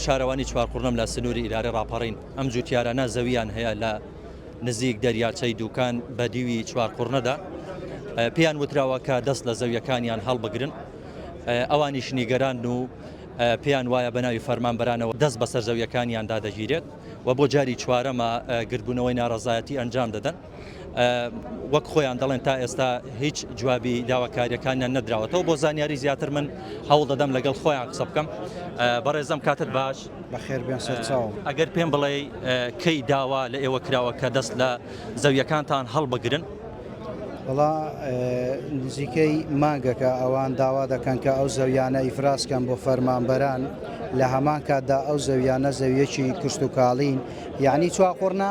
شارەوانی چوارقوڕنم لە سنووری ئیلارێ ڕاپەڕین، ئەم جووتیارانە زەوییان هەیە لە نزیک دەریاچەی دووکان بە دیوی چوارقوڕنەدا، پێیان وتراوە کە دەست لە زەوییەکانیان هەڵبگرن، ئەوانیش نیگەرانن و پێیان وایە بە ناوی فەرمانبەرانەوە دەست بەسەر زەوییەکانیاندا دەگیرێت و بۆ جاری چوارەمە گردبوونەوەی ناڕەزایەتی ئەنجام دەدەن. وەک خۆیان دەڵێن تا ئێستا هیچ جوابی داواکاریەکانیان نەدراوەتەوە بۆ زانیاری زیاتر من هەوڵ دەدەم لەگەڵ خۆیان قسە بکەم بەڕێزم کاتت باش بەخێر بێن سەرچاو ئەگەر پێم بڵێ کەی داوا لە ئێوە کراوە کە دەست لە زەویەکانتان هەڵبگرن بەڵا نزیکەی مانگەکە ئەوان داوا دەکەن کە ئەو زەویانە ئیفراسکەن بۆ فەرمانبەران لە هەمان کاتدا ئەو زەویانە زەویەکی کشتتوکاڵین یعنی چواقڕنا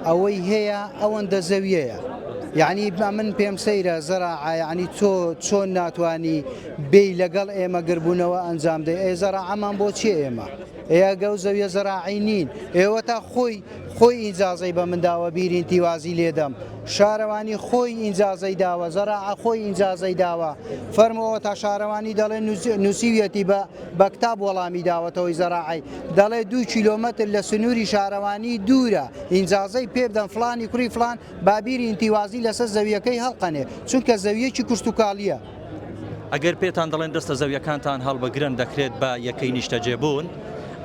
ئەوەی هەیە ئەوەندە زەویەیە یەعنی من پێم سەیرە زەراعە یەعنی تۆ چۆن ناتوانی بێی لەگەڵ ئێمە گربوونەوە ئەنجام دەی ئێ زەراعەمان بۆ چی ئێمە ئێگە و زەویە زەراعی نین ئێوە تا خۆی خۆی ئینجازەی بە منداوە بیرین تیوازی لێدەم شارەوانی خۆی ئینجازەی داوە زەراعە خۆی ئینجازەی داوە فەرمەوە تا شارەوانی دەڵێن نووسیویەتی بە بە کتاب وەڵامی داوەتەوەی زەراعی دەڵێ دوو کیلۆمەتر لە سنووری شارەوانی دوورە ئینجازەی پێبدەن فلانی کوڕی فلان بابیری ئینتیوازی لەسەر زەویەکەی هەڵقەنێ چونکە زەویەکی کشتتوکاڵیە. ئەگەر پێتان دەڵێن دەستە زەویەکانتان هەڵبگرن دەکرێت بە یەکەی نیشتەجێبوون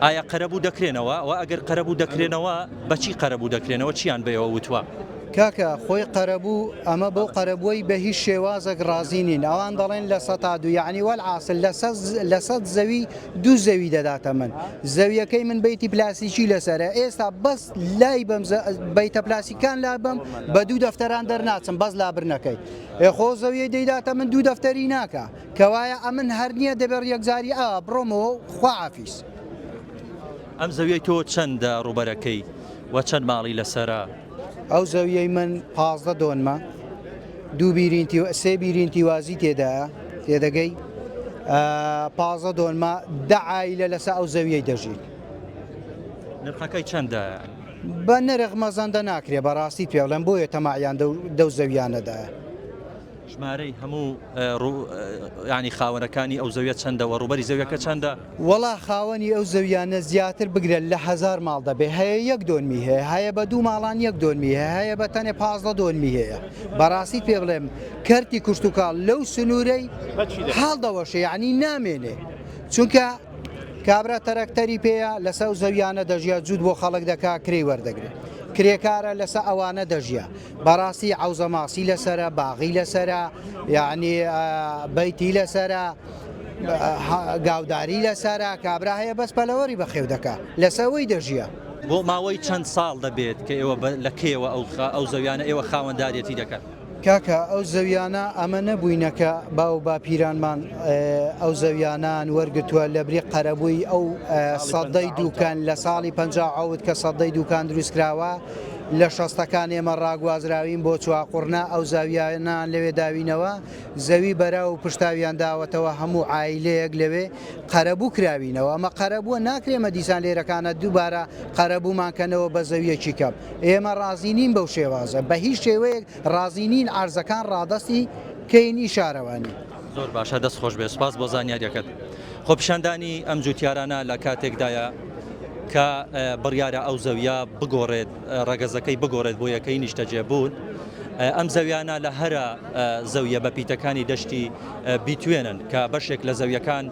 ئایا قەرەبوو دەکرێنەوە؟ وە ئەگەر قەرەبوو دەکرێنەوە بەچی قەرەبوو دەکرێنەوە چیان بەوە وتوە؟ کاکە خۆی قەرەبوو ئەمە بەو قەرەبووەی بە هیچ شێوازەک ڕازی نین ئەوان دەڵێن لە سەتا دوو یعنی وەلعاسل لە سەد زەوی دوو زەوی دەداتە من زەویەکەی من بیتی پلاسیکی لەسەرە ئێستا بەس لای بەم بیتە پلاسیکان لا بەم بە دوو دەفتەران دەرناچم بەس لابرنەکەی خۆ زەویە دەیداتە من دوو دەفتەری ناکە کەوایە ئەمن هەر نییە دەبێت یەکجاری ئا بڕۆمەوە خواعافیس ئەم زەویەی تۆ چەندە ڕوبەرەکەی وە چەند ماڵی لەسرە؟ ئەو زەویەی من پازدە دۆنمە دوو بیرینتی سێ بیرینتی وازی تێدا تێدەگەی پازە دۆنمە دەعایلە لەسە ئەو زەویەی دەژیت نرخەکەی چەندە بە نرخ مەزەندە ناکرێ بەڕاستی پێڵێن بۆیە تەماعیان دەو زەویانەدا ژمارەی هەموو ڕو یانی خاوەنەکانی ئەو زەویە چەندە وە ڕووبەری زەویەکە چەندە؟ وەڵا خاوەنی ئەو زەویانە زیاتر بگرە لە هەزار ماڵ دەبێ هەیە یەک دۆنمی هەیە هەیە بە دوو ماڵان یەک دۆنمی هەیە هەیە بە تەنێ پازدە دۆنمی هەیە بەڕاستیت پێ بڵێم کەرتی کوشتتوکاڵ لەو سنوورەی حاڵ دەوەشێ یعنی نامێنێ چونکە کابرا تەرەکتەری پێەیە لەسەر زەویانە دەژیا جوود بۆ خەڵک دەکا کرێی وەردەگرێت کرێکارە لەسە ئەوانە دەژیا بەڕاستی عەوزە ماسی لەسەرە باغی لەسەرە یعنی بەیتی لەسەرە گاوداری لەسەرە کابرا هەیە بەس پەلەوەری بەخێو دەکا لەسەوەی دەژیە. بۆ ماوەی چەند ساڵ دەبێت کە ئێوە لە کێوە ئەو زەویانە ئێوە خاوەندارەتی دەکەن؟ کاکە ئەو زەویانە ئەمە نەبووینەکە باو باپیرانمان ئەو زەویانان وەرگتووە لە بری قەرەبووی ئەو سەدەی دووکان لە ساڵی پ ئەوت کە سەدەی دووکان دروستکراوە لە شەستەکان ئێمە ڕاگوازراوین بۆ چواقوڕنا، ئەو زاویانەیان لەوێ داوینەوە، زەوی بەراو و پشتاویان داوەتەوە، هەموو عایلەیەک لەوێ قەرەبوو کراوینەوە، ئەمە قەرەبووە، ناکرێ ئێمە دیسان لێرەکانە دووبارە قەرەبوومان کەنەوە بە زەوییەکی کەم، ئێمە ڕازی نین بەو شێوازە، بە هیچ شێوەیەک ڕازی نین عەرزەکان ڕادەستی بکەین ئی شارەوانی. زۆر باشە دەست خۆشبێت سوپاس بۆ زانیاریەکەت خۆپیشاندانی ئەم جوتیارانە لە کاتێکدایە کە بڕیارە ئەو زەویە بگۆڕێت ڕەگەزەکەی بگۆڕێت بۆ یەکەی نیشتەجێبوون ئەم زەویانە لە هەرە زەویە بە پیتەکانی دەشتی بیتوێنن کە بەشێک لە زەویەکان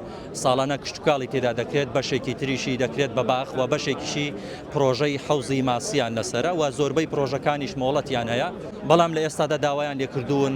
ساڵانە کشتتوکاڵی تێدا دەکرێت بەشێکی تریشی دەکرێت بە باخ و بەشێکیشی پرۆژەی حوزی ماسییان لەسرە و زۆربەی پرۆژەکانیش مۆڵەتیان هەیە بەڵام لە ئێستادا داوایان لێکردوون